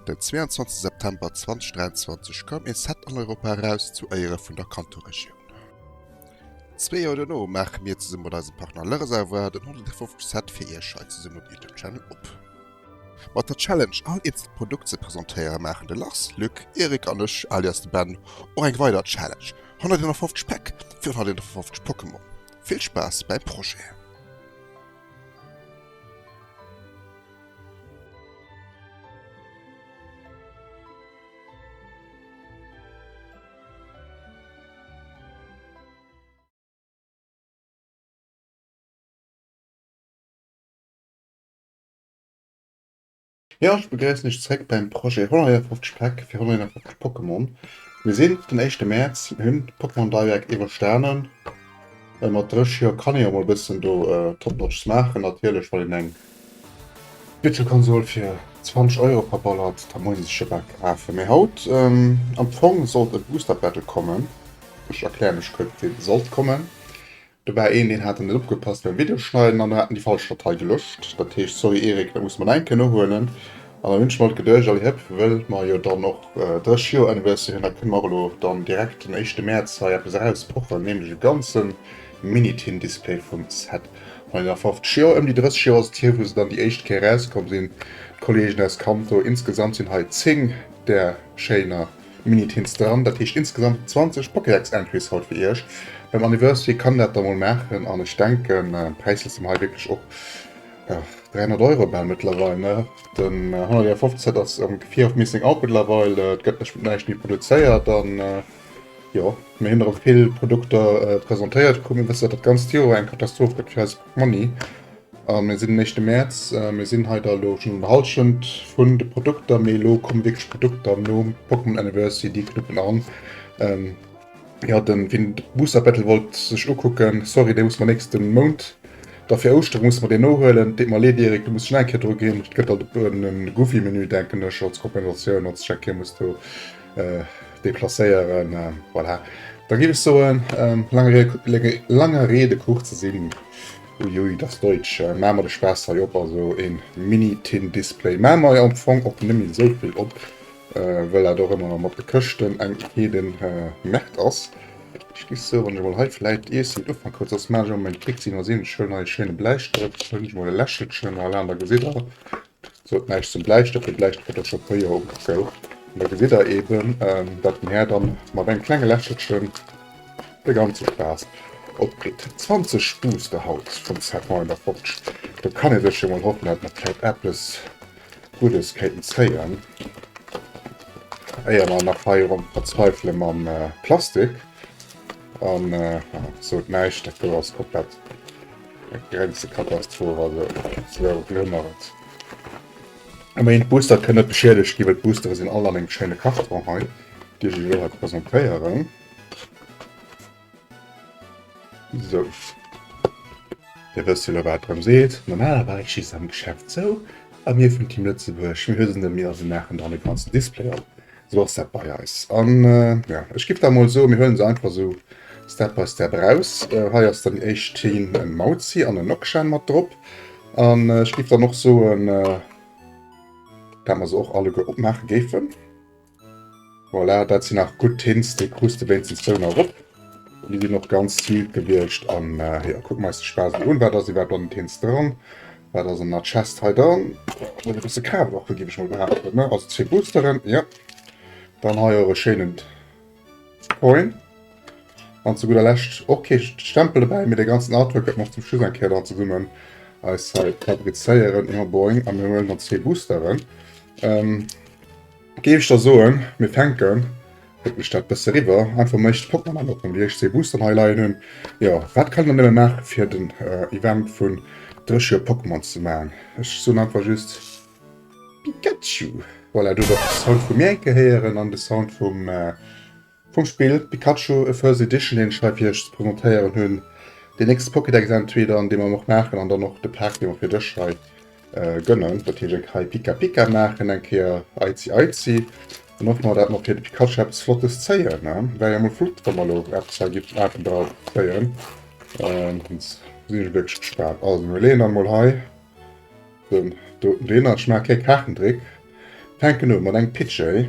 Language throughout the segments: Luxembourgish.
Den 22 September 2023 koum ee Set an Europa eraus zu Éiere vun der Kanto-Regioun. Zwee Joer dono maache mir zesumme mat eisem Partner Lereservoir den 150. Set fir iech hei zesumme op YouTube Channel op. Mat der Challenge all eenzel Produkt ze presentéieren maachen de Lars, Luc, Eric an ech, alias de Ben, och eng weider Challenge, 151 Päck fir 151 Pokémon. Vill Spaass beim Projet! Jo, ech begréissen iech zréck beim Projet 151 Päck fir 151 Pokémon. Mir sinn op den éischte Mäerz, mir hunn d'Pokémon Direct iwwerstanen. Mat 30 Joer kann ee jo mol e bëssen do Top Notches maachen. Natierlech wann een eng Virtual Console fir 20 Euro verballert, da muss ee sech e Päck kafen. Mee haut am Fong sollt e Booster Battle kommen. Ech erkläre mech kuerz, dee sollt kommen. Do war een deen hat net opgepasst beim Video schneiden an mer haten déi falsch Datei gelöscht. Dat heescht sorry Erik, dat musse mer nach eng Kéier nohuelen an dann wënsche mer alt Gedëlleg all Hëpp wëll mer jo dann och 30 Joer Anniversaire hunn. Da kënne mer och elo dann direkt den éischte Mäerz hei eppes eraus pochen, nämlech e ganze Minitin Display vum Set vun enger 50 Joer. Ëm déi 30 Joer ass et hier wou se dann déi éischt Kéier erauskomm sinn, d'Kollegen aus Kanto. Insgesamt sinn hei 10 där schéiner. Minutt hintst dran, dat heescht insgesamt 20 Pokédex Entries haut fir iech. Beim Anniversary kann dat da mol maachen an ech denken Präisser sinn hei wierklech och 300 Euro about mëttlerweil ne, den 151 ass am Fear of Missing Out mëttlerweil, et gëtt net näischt méi produzéiert an jo mir hunn erëm vill Produkter presentéiert krumm. Mir wëssen dat dat ganzt Joer eng Katastroph gëtt fir eis Monni, mir sinn den éischte Mäerz, mir sinn hei der elo schonn un der Hallschent vun de Produkter, mee elo komme wierklech d'Produkter nom Pokémon Anniversary, déi knuppen an. Ähm, jo, den, wien de Booster Battle wollt sech ukucken, sorry, dee muss mer nächsten Mount, da fir Ouschteren muss mer deen nohuelen. Deet mer leed Erik, do muss ech nach eng Kéier dru ginn, et gëtt alt en Goofy Menü denken ech als Kompensatioun, als ech eng Kéier muss do. äh, deplacéieren. Äh, voilà. Da gi ech so en ähm, langer Rede kuch ze sinn. Uiui das Deutsch äh, Mamer de Spaß hei op also en Mini-Tin-Display. Mamer ja am Fong och nëmmi souvill op, äh, well dat och ëmmer mat de Këschten eng Eden äh, Märkt ass. Ich gif so wann mal hei vielleicht ees den Ufang kurz aus Marge um mein Trick ziehen mal sehen schön neue schöne Bleistift und ich mal Lächelchen allein da gesehen Soot näischt zum Bläistëft, den Bläistëft gëtt och scho puer Joer ugezou an do gesidd der eben dat den Här dann mat engem klenge Lächelchen de ganze Spaass opkritt. 20 Spuss gehaut vum Serpent in der Forge, do kann ee sech jo mol hoffen dat mer vläit eppes Guddes kéinten zéien éier mer nach hei erëm verzweifele mam Plastik an soot näischt dat do ass komplett. Eng Grenze-Katastroph, also ze elo glimmer et. A méi een, d'Boostere kënnen net beschiedegt ginn, well d'Boostere sinn all an engem schéine Karton hei, dee ech iech elo hei presentéieren. Sou. Dir wësst jo elo wat et drëm seet. Normalerweis schi se am Geschäft zou a mir vum Team Lëtzebuerg, mir huelen se net méi a se maachen dann de ganzen Display op. Sou ass dat bei eis. An jo, ech giff da mol soen, mir huelen se einfach esou step by step eraus. Hei ass dann déi éischt Team en Mauzi an en Nokshan mat drop. An ech giff dann och soen, dat mer se och alleguer opmaache géifen. Voilà, dat sinn nach gutt Tints, déi krus de wéinstens zwou nach erop. Déi ginn och ganz smooth gewiescht an jo kucken mer eis de Spaass mol un. Wat ass iwwerhaapt an den Tints dran? Wat ass an der Chest hei dran? Ass e bësse Kraftwaffen géif ech mol behaapten ne? Also zwee Boosteren jo. Dann hei och e schéinen Coin an zu gudder Lescht och kee Stempel dobäi mee de ganzen Artwork dat mer och zum Schluss eng Kéier dann zesummen eis hei fabrizéieren. Jo boing a mir huelen dann zwee Boosteren. Géif ech da soen, mir fänken, huet mech dat bësse eriwwer einfach mécht, fënnt mer dann och rëm, wéi ech zwee Boosteren hei leien hunn. Jo, wat kann een da nëmme maachen, fir den Event vun Dréchue Pokémons ze maachen? Ech soen einfach just Pikachu! Voilà, do huet och de Sound vu mir enke héieren an de Sound vum. Vum Spill Pikachu, A First Edition, deen ech hei fir iech ze presentéieren hunn, deen nächste Pokédex entweder, an dee mer och maachen, an dann och de Pack, dee mer fir dech hei gënnen. Dat heescht, eng Kéier Pika Pika maachen, eng Kéier Aizi Aizi, an och nach, datt mer fir de Pikachu eppes Flottes zéien. Wär jo mol flott, wa mer elo eppes hei géifen Aarten dra zéien. Ech sinn elo wierklech gespaant. Also mir leeën dann emol hei den doten deen an. Ech maache e klénge Kaartendréck, fänken u mat engem Pidgey.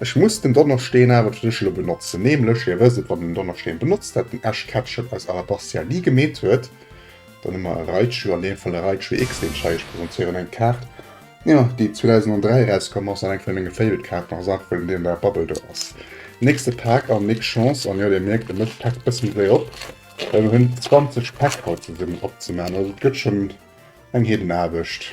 Ech muss den Donnerschdeen awer fir dech elo benotzen, nämlech, dir wësst et, wann den Donnerschdeen benotzt dat den Ash Ketchum aus Alabastia ni gemeet huet, dann hu mer e Raichu, an deem Fall e Raichu X, deen ech hei iech presentéieren, eng Kaart, jo, déi 2003 erauskomm ass an eng vun menge Favorite Kaarten ass, einfach wëll en déi an der Bubble do ass. Nächste Pak an nix Chance, an jo, dir mierkt, e mécht d'Pak e bësse méi séier op, well mer hunn 20 Pak haut zesummen opzemaachen, also et gëtt schonn eng Heedenaarbecht.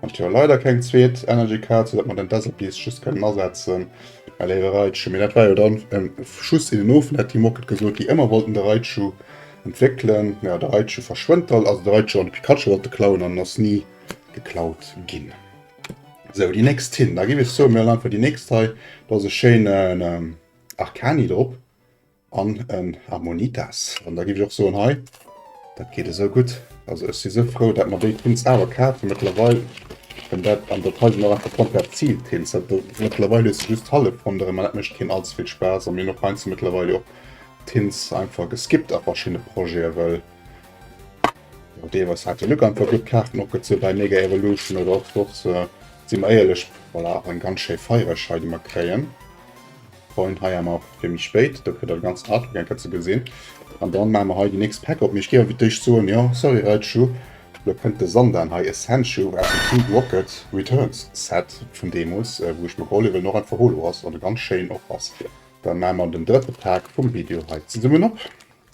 Ech jo leider keng zweet Energy Card, sou dat mer den Desert Beast just kënnen asetzen. Mä léiwe Raichu, mee dat war jo dann e Schuss in den Ofen, hätt déi Moked gesot, déi ëmmer wollten de Raichu entwéckelen. Mä de Raichu verschwënnt da, also de Raichu an de Pikachu wollte klauen an en ass ni geklaut ginn. Sou, déi nächst Tin, da géif ech soen, mir hu einfach déi nächst hei, do ass e schéinen Arcani drop. an en Ammonitas. An da giff ech och soen, hei dat geet esou gutt, also ech si sou frou dat mer déi Tints awer kaf hu mëttlerweil, well dat an der Taille sinn och einfach komplett Zieltints. Dat do mëttlerweil hues de just hallef ronderëm an dat mécht keen allze vill Spaass. A mir hunn och heiansdo mëttlerweil jo och Tints einfach geskippt a verschiddene Projete, well jo deelweis hat de Luc einfach gutt Kaarten opgezunn bei Mega Evolution oder och soss. Si mer éierlech, voilà, och eng ganz schéi Feiereschei déi mer kréien. Coin hei emmer fir méi spéit, do kritt der de ganzen Artwork eng Kéier ze gesinn. An dann maache mer hei déi nächst Pack op. Mee ech géif awer fir d'éischt soen, jo sorry Raichu, elo kënnt de Sandan hei, e Sandshrew aus dem Team Rocket Returns Set vun deemools, wou ech mer geholl hunn, well en och einfach holo ass an e ganz schéinen och ass. Dann maache mer den drëtte Pack vum Video hei zesummen op.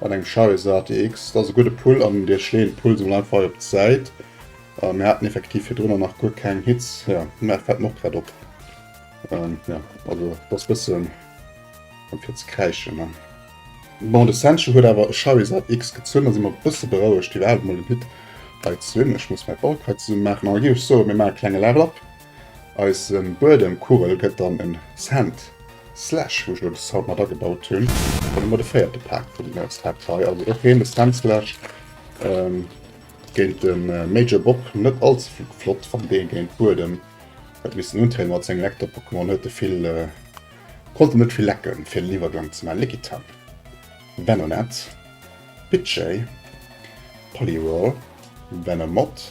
Mat engem Charis ATX, dat ass e gudde Pull an Dir schleeën d'Pulls emol einfach hei op d'Säit. Mir haten effektiv virdrunner nach guer keng Hits, ja, mä fält mer och grad op. Ähm, ja, also dat ass e bëssen fir ze kräischen, ne? Bon, de Sancho huet awer e Charis ATX gezunn, da si mer e bësse berouegt, iwwerhaapt emol en Hit hei ze hunn. Ech muss mäi Bulk hei zesumme maachen, a da géif ech soen, mir maache klenge Level-Up. Eis Buedem Kugel gëtt dann en Sand Slash, wou ech elo de Sound mat agebaut hunn. Dann hu mer de véierte Pak vum Set hei, also och hien e Sand Slash. Géint de Major Bob net all ze vill flott, wann dee géint Buedem huet missen untrieden mat sengem Lecter Pokémon, huet e vill, konnt en net vill lecken fir den Iwwergang ze maachen. Lickitung, Venonat, Pidgey, Poliwhirl, Venomoth.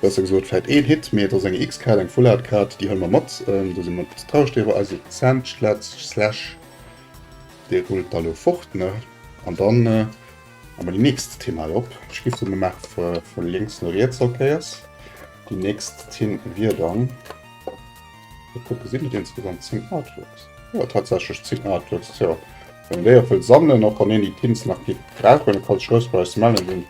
Besser gesot vläit een Hit, mee et ass eng X-Card, eng Full Art Card, déi hëlle mer mat. Do si mer traureg driwwer. Also Zäntschletsch Slash, dee rullt da lo fort, ne? An da hu mer déi nächst Tinn hei op. Ech géif soen, mir maache vu lénks no riets allkéiers. Déi nächst Tinn wier dann, mol kucken, sinn et insgesamt 10 Artworks? Jo, tatsächlech 10 Artworks. Tjo, wann een déi och wëll sammelen, och wann een déi Tints nach géif brauchen, e Karl Schroesbauer Smell un deen.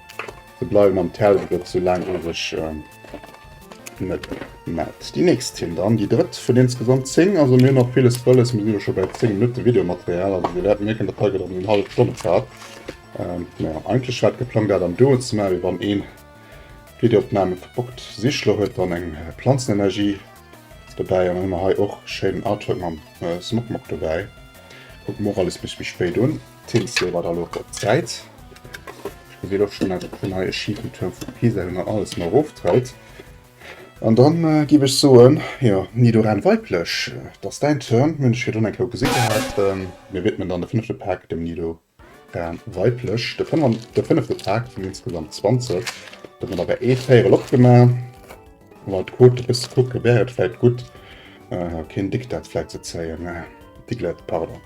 Ze bleiwen am Teller gëtt, sou laang ass ech net matt. Déi nächst Tinn dann, déi drëtt vun insgesamt 10. Also mir hunn nach villes wëlles, mir sinn elo scho bei 10 Minutte Videomaterial, also Dir wäert mierken, dat hei gëtt erëm eng hallef Stonn Zäit. Jo, eigentlech war et geplangt dat am Duo ze maachen, mee wann een d'Videoopname verbockt, Sichler huet dann eng Planzenenergie dobäi an dann hu mer hei och schéinen Artwork mam Smok Mok dobäi. Kucke mer och alles e bësse méi spéit un. D'Tins leeë mer da elo op d'Säit. Ech gesin och schon dat den neie schifen Tuerm vu Pisa hei nach alles mei erof treit. An dann giff ech soen, jo Nidoran Weiblech, et ass däin Turn. Hunn ech virdrun eng Kéier gesi gehat. Mir widmen dann de fënnefte Pak dem Nidoran Weiblech. De fënnern, de fënnefte Pak vun insgesamt 20. Do hu mer der bei ee Véierel opgemaach. Mat der Quote e bësse kucke wär et vläit gutt, keen Diktat vläit ze zéien, Diglett, pardon.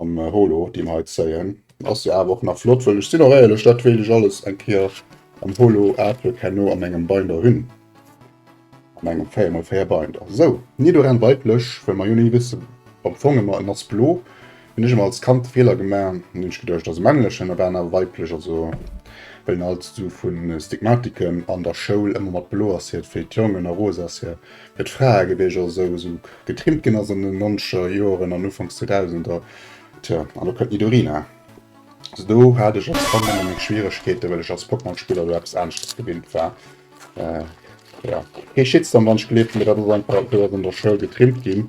Am Holo deem hei zéien. Ass jo awer och nach flott, wëll ech sinn och éierlech, dat wéilt ech alles eng Kéier am Holo Artwork herno an engem Binder hunn, an engem 4 mol 4 Binder. Sou, ni doran weiblech, well mer jo ni wësse am Fong ëmmer, en ass blo, hunn ech ëmmer als Kand de Feeler gemaach, an hunn ech geduecht ass e männlechen, a war en awer weiblech, also well en alt esou vu Stigmatiken an der Schoul ëmmer mat blo ass, hiert wéi d'Jongen, a rose ass hie. Et Fraegebierger esou esou getrimmt ginn ass an den nonzeger Joeren an Ufanks Zweedausender, tjo, an do kënnt Nidorina. Also do hat ech als Kand ëmmer meng Schwieregkeete well ech als Pokémon-Spiller elo eppes aneschters gewinnt war. Jo, kee Shitstorm wann ech geleeft hunn, mee dat ass einfach eppes wat an der Schoul getrimmt ginn,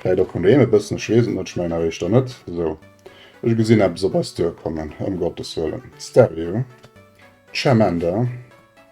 vläit och vun doheem e bëssen, ech weess et net, ech mengen awer éischter net. Sou, ech gesinn eppes op eis duerkommen, ëm Gottes wëllen, Stario, Charmander.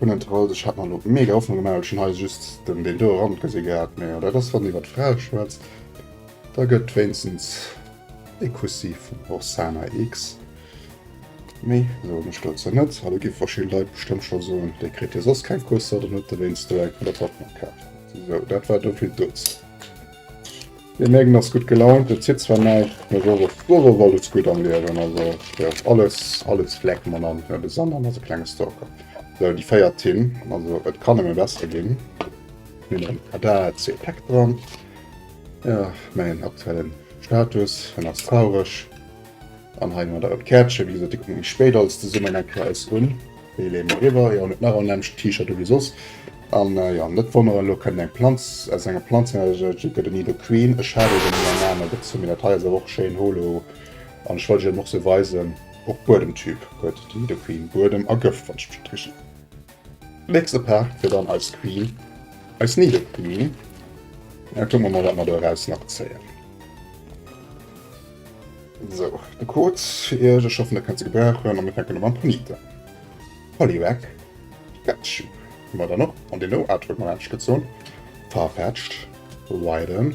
Unnen trollt, ech hat mer lo mega Hoffnung gemaach, well ech hun hei just den deen do Rand gesin gehat, mee jo dat ass wann iwwert Frae schwätzt, da gëtt wéinstens ee Kussi vum Roxana X, méi soen ech dozou net, hallo gi verschidden Leit bestëmmt scho soen, dee kritt jo soss keng Kusser, dann huet dewéinst do eng flott Hoffnung gehaat, sou dat war dovill dozou. Mir mierken ass gutt gelaunt, et zitt zwar näischt, mee soss ass soss ass alles gutt am Liewen, also jo alles alles fleck mam Land, ne de Sanan ass e klenge Stalker. Sou déi véiert Tin, also et kann nëmme besser ginn, hunn en ADAC-Pack dran, jo mäin aktuellen Status, en ass traureg. An hei mat eisem Käertchen, wéi gesot, dee kënnt méi spéit als Zesummenhang fir eis un. Dee leeë mer eriwwer, jo, net nach en Lämmchen T-Shirt ewéi soss. An jo, net wonneren, elo kënnt eng Planz, aus enger Planz heraus, et gëtt e Nido Queen. Ech hat e schonn an anere gezunn, mee dat hei ass awer och schéin holo an ech wollt iech dat och sou weisen. Och Buedemtyp huet de Nido Queen, Buedem a Gëft, wann ech mech net täschen. Nächste Paart wier dann eis Queen, eis Needle Queen. Mä kucke mer mol, wat mer do eraus nach zéien. Sou, de Code fir iech, ech hoffen, der kënnt se gebrauchen. A mir fänken u mam Ponite. Poliwag, Pikachu hu mer dann och an den No Artwork Moment gezunn. Farfetch'd, Widen.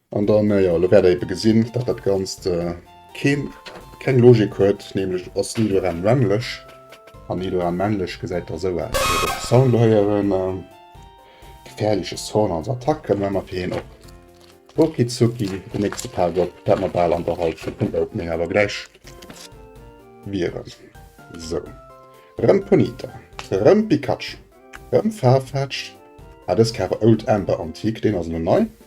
An dann, äh, ja, lo wäert der eben gesinn, datt dat Ganzt, äh, keen, keng Logik huet, nämlech et ass ni doran männlech an ni doran männlech, gesäit da sou aus. Fir de Sound lo héieren, äh, gefährliche Zone als Attack, këmme mer fir hien op Okizuki, den nächste Power-up, dat mer bal an der Hallschent vum Opening awer gläich wieren. Sou, rëm Ponyta, rëm Pikachu, rëm Farfetch'd, ah, dës Cave Old Amber Antique, deen ass elo nei.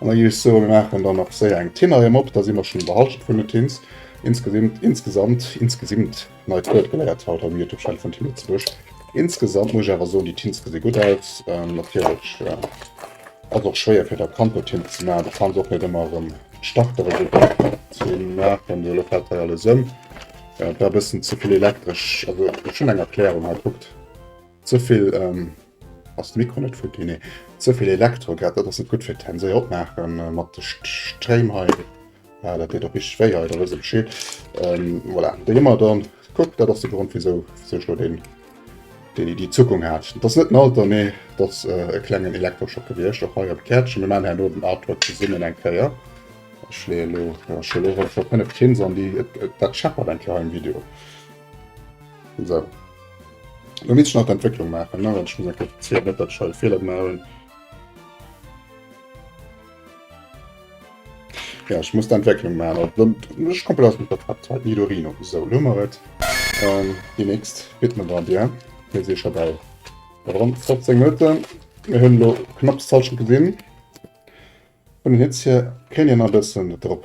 An da gi ech soe mir maachen dann nach séier eng Tinnerem op, da si mer schonn an der Halschent vun den Tins. Insgesimt, insgesamt, insgesimt, neit Wuert geléiert haut am Youtube Channel vun Tin Lëtzebuerg. Insgesamt muss ech awer soen, déi Tins gesi gutt aus. Natierlech ass och schwéier fir der Kante Tinte ze maachen, do kann se och net ëmmer erëm d'Startere gutt ze maachen. Elo fält hei alles ëm, dat war e bëssen ze vill elektresch, also ech hunn eng Erklärung hei, kuckt, ze vill. Ass de Mikro net futti? Nee. Zevill Elektro grad, dat ass net gutt fir d'Hänn. Sou, opmaache mat de Stréim hei. Ah, dat deet och richteg wéi hei, da wëss e Bescheed. Voilà, déi hu mer dann. Kuck, dat ass de Grond, wisou sech elo deen déi Iddi zukung hat. Dat ass net en Alter, mee dat ass e klengen Elektroschock gewiescht. Och hei am Käertchen. Mir maachen herno den Artwork zesummen eng Kéier. Ech leeën elo, jo, ech hu elo ronderëm 5 Pins an déi. Et, dat scheppert eng Kéier hei am Video. So. Du misst nach d'Entwécklung maachen, ne? Wann ech muss enke zielen, net datt ech hei e Feeler gemaach hunn. Ja, ech muss d'Entwécklung maachen. Dann ech komplett aus dem Vertrag halt Nidorino. So, lo mer et. Ähm, déi nächst bitt man dann dir. Mir si scho bei rund 15 Minuten. Mir hunn lo knapps d'Hallschent gesinn. An den Hitz hier kéint een nach e bëssen drop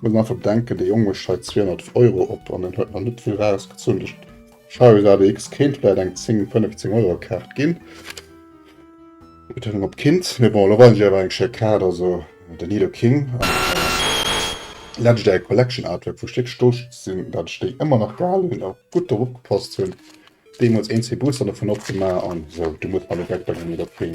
Muss mer einfach bedenken, de Jong mécht hei 200 Euro op an en huet nach net vill rausgezunn. De Scheiwes ADX kéint vläit eng 10, 15 Euro Kaart ginn. Betonung op kinnt. Mee bon, elo weisen ech iech awer eng schéi Kaart. Also de Nido King an de Legendary Collection Artwork, wou ech wierklech stolz sinn, datt ech déi ëmmer nach gehalen hunn a gutt drop opgepasst hunn. Deemools een, zwee Booster dovun opgemaach an esou. Du muss bei de Backpack an de Nido King.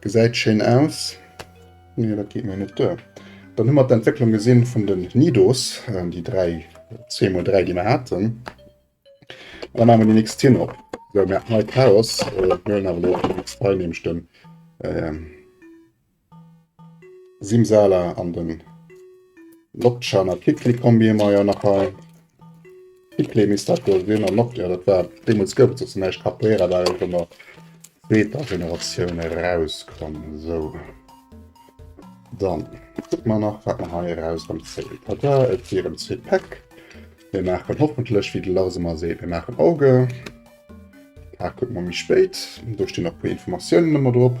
Gesäit schéin aus. Nee, dat geet mir net duer. Dann hu mer d'Entwécklung gesinn vun den Nidos, déi dräi, zwee mol dräi, déi mer haten. An da maache mer déi nächst Tinn op. Sou, mer haten hei Chaos. Mir huelen awer elo déi nächst Rei, nämlech de Simsala an de Lotchan. A d'Klick-Klick-Kombi hu mer jo nach hei. Hitlé misst dat wuel sin, an och, jo dat war, deemols gouf et soss näischt, Capoeira war jo och emmer zweeter Generatioun eraus komm, sou dann kucke mer nach wat mer hei eraus hunn, Zéi tada, et wieren zwee Päck, mir maachen hoffentlech, wéi de Lars emmer seet, mir maachen Auge, d'Paart kucke mer méi spéit, do stinn nach e puer Informatiounen emmer drop.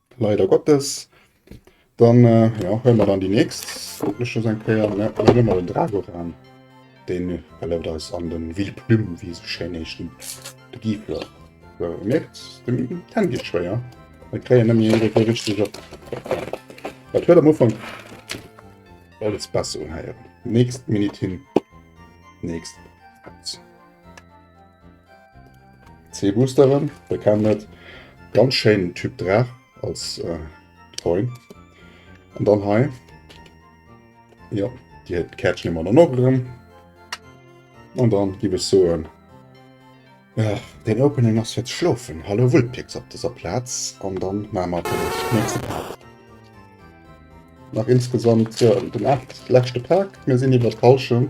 Leider Gottes. Dann ja, hëll mer dann déi nächst Lësche eng Kéier net mal den Drago ran. Den erlaubt eis an den Ville Plume wéi se schéin heescht de Gifler. Sou, mierkt, den Ten geet schwéier. Mir kréien net méi iergendwéi richteg op. Dat huet am Ufank alles besser unheieren. Nächst Minute hin, nächst Paus. C-Boosteren, der kennt net. Ganz schéin Typ Draach als äh, Coin. Und dann hei. Ja, die hat Catch immer dann noch drin. Und dann gebe ich so ein. Ja, den Opening ass jetzt schlofen. Hallo Wulpix op dieser Platz Und dann machen wir den nächsten Part. Nach insgesamt ja, den 8 letzte Park. Wir sinn iwwer Fallschirm.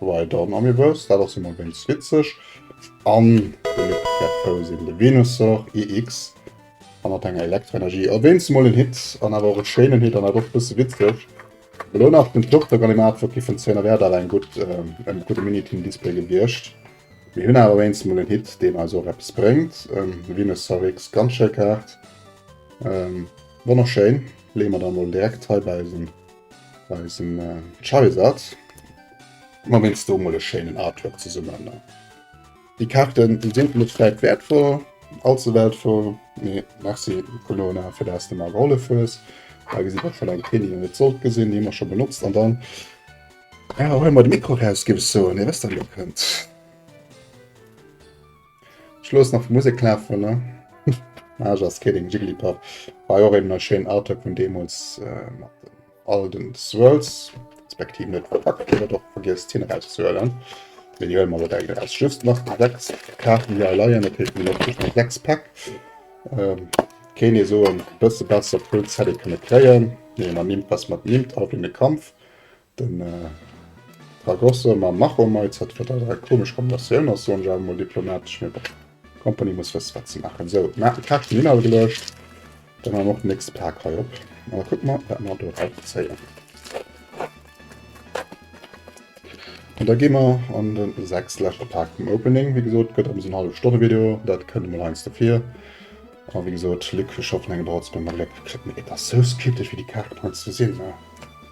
Weidern Amiibo's, dat ass jo mol wéinst witzeg. An de Luc wäert frou sinn, de Venusaur EX a mat enger Elektroenergie. A wéinst mol en Hit an awer och e schéinen Hit an awer och e bësse witzeg. Elo nach den Turtok an dem Artwork gi vun Zehner wäert awer eng gutt, en gudde Mini-Team-Display gewiescht. Mir hunn awer wéinst mol en Hit, deen eis och eppes bréngt. Venusaur EX, ganz schéi Kaart, wonnerschéin. Leeë mer der mol direkt hei bei eisen. Bei eisem Charizard man mir jetzt mol e schéinen Artwork zesummen. Die Karten die sind net vielleicht wertvoll, allzu wertvoll, nee, merci Colona fir dass du mer gehollef hues. Da gesit dat schon eng Tele net sollt gesinn, déi mer schon benotzt an dann ja, huelen mer de Mikro raus, gif ech soen, dir wësst dann wou kënnt. Ech loossen nach Musek lafen ne. Ah just kidding, Jigglypuff war jo och een schéinen Artwork vun deemols mat den all den Swirls, respektiv net verpackt ginn, dat och vergiess d'Zinn erauszehuelen. Mee déi huele mer elo direkt eraus. Just nach déi 6 Kaarten déi hei leien, dat heescht mir hunn just nach 6 Pack. Kéint ee soen, e bësse besser Full Set ee kënne kréien, mee mat Nimfas mat Nimb, All bringt e Kampf. Den Ragosse mam Macho Meitz hat fir dat eng komesch Kombinatioun ass, soen ech awer mol diplomatesch. Mee bon, d'Company muss wësse wat se maachen. Sou, mer hat d'Kaart vum Inhalt geluecht, da maache mer och den nächste Pak hei op an da kucke mer, wat mer do erauszéien. An da gi mer an de sechste, leschte Pak vum Opening. Wéi gesot, gëtt eppes en Hallefstonne-Video, dat kënnt emol heiansdo vir. A wéi gesot, Luc, ech hoffen, eng Drotzbëmm a Gléck kritt. Mee et ass sou skeptesch, wéi déi Kaarten heiansdo sinn, ne?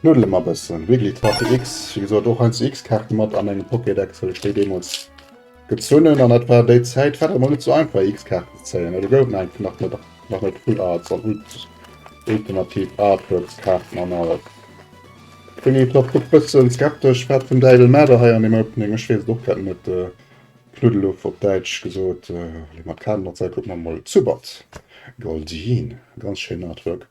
Knuddele mer bëssen. Wiggly Trophy X, wéi gesot och eins X-Kaarte mat a mengem Pokédex, well ech déi deemools gezunn hunn. An dat war déi Zäit, war dat mol net esou einfach X-Kaarten ze zéien. Do gouf et einfach nach net nach net Full Arts an ultimativ Artworks Kaarten an alles. Wiggly Top kuckt bëssen skeptesch, wat vum Däiwel maat der hei an deem Opening? Ech weess et och grad net. Knuddeluff op Däitsch gesot. Mat Kaarten an Zäit kucke mer mol. Zubat Goldeen, ganz schéin Artwork.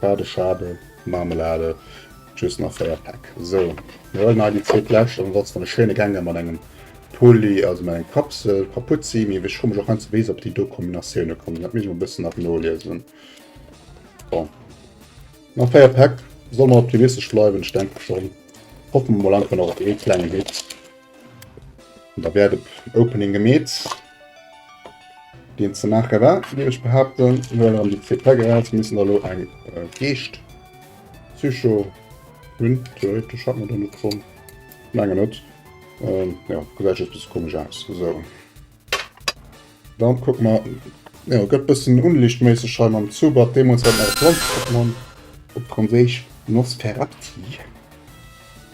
D'Bade Schabe Marmelade just nach 4 Päck. Sou, mir huelen hei déi zweet lescht an ansonsten e schéine Gänger mat engem Pulli, also mat engem Kapsel Kapuzi. Mee ech fro mech och heiansdo wéi se op déi do Kombinatioune kommen. Dat misst ech mol e bëssen nach noliesen. Bon, nach 4 Päck, soll mer optimistesch bleiwen. Ech denke schonn, hoffen mer mol einfach nach op ee klengen Hit. Da wäert op Opening gemeet. deen ze maache war, wéi ech behaapten, well an déi zwee Peggerel, se mussen da lo eng Geescht Psycho hunn, theoretesch hat mer do net drun, mengen net, jo gesäit just bësse komesch aus. Sou, dann kucke mer, jo gëtt bëssen unlichtméisseg hei mam Zubat, deemools hat mer e Planzezuch mann, op Franséisch Nosferapti.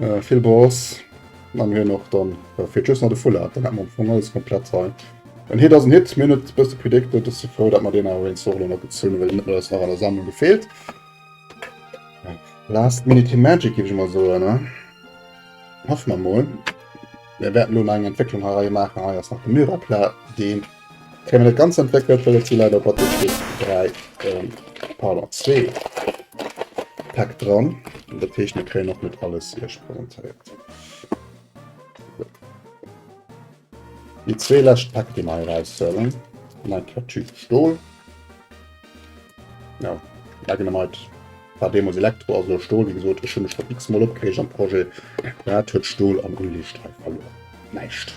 Äh, vill Boss. Dann hun och dann äh, fir just nach de Full Art, dann hat man am Fong alles komplett sein. En Hit ass en Hit, mir net bësse predicted, dass se frou, dat man den awer en Zorlo nach gezun, well net ass nach an der Sammlung gefehlt. Last Minute Magic gebe ich mal so, ne? Hoff man mal. Wir werden nur eine Entwicklung herein machen, hei ass nach den Myrapla, den Kréie mer net ganz entwéckelt, well et si leider op Athleetspill 3, pardon 2 Päck dran, dat heescht mir kréien och net alles Iech presentéiert. Déi zwee lescht Päck, déi mer hei eraushuelen, hunn eng Kette Typ Stol. Jo, Leggenamite war deemools Elektro, ass elo Stol. Wéi gesot, ech hu mech schonn x-mol opgereegt am Projet, wat huet Stol am Unliicht hei verluer? Näischt!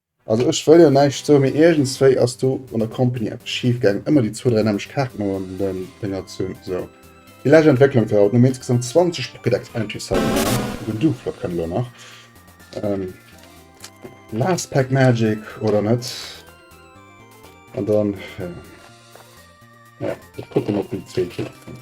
Also ech wëll jo näischt soen, mee iergendswéi ass do an der Company eppes schif gaangen. Ëmmer déi zwou, dräi nämlecht Kaarten an den Dénger zun. Sou, déi lescht Entwécklung war haut. Mir hunn insgesamt 20 Pocket Expansions hei gemaach. Den Duflok kënnt elo nach. Ähm, last Pack Magic oder net? An dann, ja. Ja, ech kucken, ob déi zwee Kit kommen.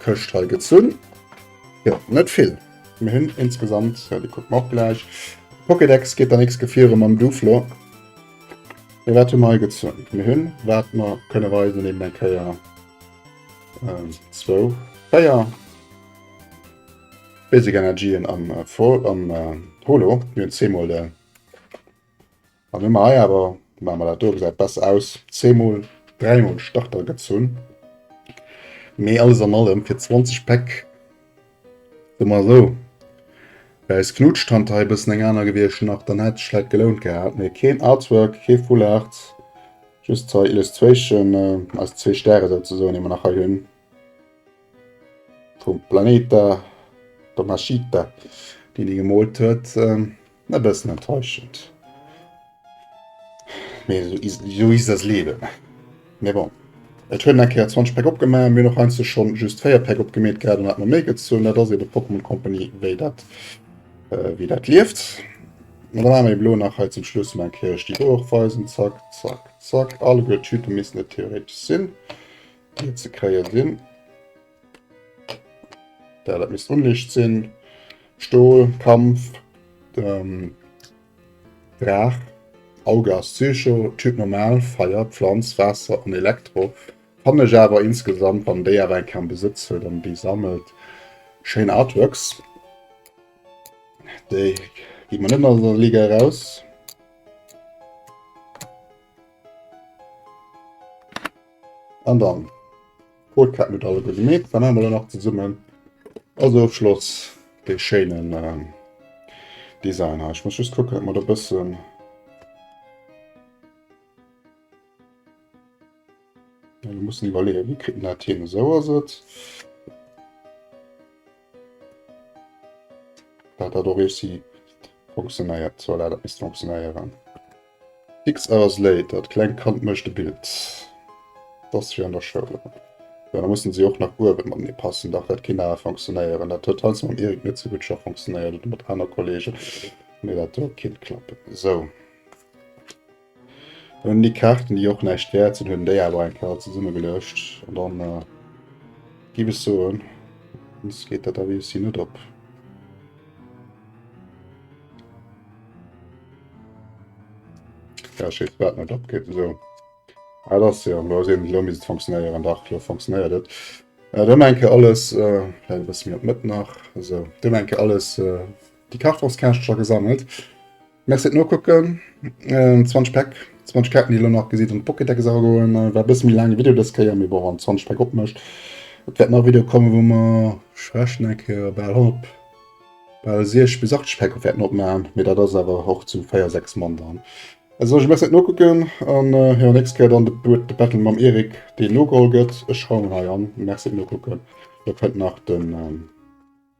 Këscht hei gezunn. Jo, net vill. Mir hunn insgesamt, jo, déi kucke mer och gläich. Pokédex geet der nächst Gefiere mam Duflo. Mee wat hu mer hei gezunn? Mir hunn, wat mer kënne weisen, eben eng Kéier ähm, zwou, véier Basic Energien am, äh, Vol, am äh, Holo. Mir hunn zweemol de. An hun mer hei awer, maan mer dat do, gesäit besser aus, zweemol, dräimol Starter gezunn, mee alles an allem fir 20 Päck, soe mer esou, wär eis Knutschtant hei e bëssen eng aner gewierscht nach, dann hätt sech vläit gelount gehat, mee keen Artwork, kee Fullart, just hei Illustration, eis zwee Stäre souzesoen, déi mer nach hei hun, vum Planeta Tomashita, deen déi gemoolt huet. E bëssen enttäuschend, mee sou is das Leben. Mee bon, et huet en eng Kéier 20 Päck opgema, mir hunn och heiansdo scho just 4 Päck opgemeet gehat an et hat mer méi gezunn. Dat ass eebe Pokémon Company, wéi dat, wéi dat lieft. An da maache mir elo nach hei zum Schluss emol eng Kéier lech déi do och weisen. Zack, zack, zack. Alleguer d'Tüte missten et theoretesch sinn, déi et ze kréie sinn. Da dat misst Unlicht sinn. Stol, Kampf, ähm, Draach, Auge ass Psycho, Typ normal, Feier, Pflanz, Waasser an Elektro. Fannen ech awer insgesamt, wann déi awer eng Kéier am Besëtz huet an déi sammelt, schéin Artworks. Déi gi mer net aus der Liga eraus. An dann Hol Kett net alleguer gemeet, da maache mer der nach zesummen als Ofschloss dee schéinen ähm, Design hei. Ech muss just kucken, datt mer do bëssen mussen iwwerleeën, wéi kritt en dat hin? Esou ass et. Dat hat och réussi funktionéiert. So dat misst funktionéieren. Fix hours later, d'klengt Kand mécht e Bild. Dass fir an der Schoul. Jo da mussen si och nach uewen matenee passen. Dach dat kéint awer funktionéieren. Dat huet heiansdo mam Erik net sou gutt scho funktionéiert oder mat aner Kollegen. Nee dat huet kéint klappen. Sou. Hun déi Kaarten déi och näischt wärt sinn, hun déi awer eng Kéier zesumme geluecht an dann äh, giff ech soen, ons geet dat awer ici net op. Ja, ech weess wat net opgeet esou. Ah, dat ass jo lo ass eben lo misst et funktionéieren, dach lo funktionéiert et. Äh, dann eng Kéier alles, äh, vläit e bësse méi op d'Mëtt nach, esou, dann eng Kéier alles äh, déi Kartongskäschtecher gesammelt. Merci fir d'Nokucken. 20 Päck, 20 Kaarten déi elo nach gesidd an d'Pokédex agoen. War e bësse méi laange Video dës Kéier, mee bon wann 20 Päck opmécht, et wäert nach e Video kommen wou mer ech rechnen eng Kéier bal 100, bal 60 bis 80 Päck wäerten opmaachen, mee dat ass awer och zu 4, 6 Mann dann. Also soen ech Merci fir d'Nokucken an jo nächst Kéier dann de Battle mam Eric deen nogeholl gëtt. Ech schreiwen en hei an. Merci fir d'Nokucken. Dir fënnt nach den.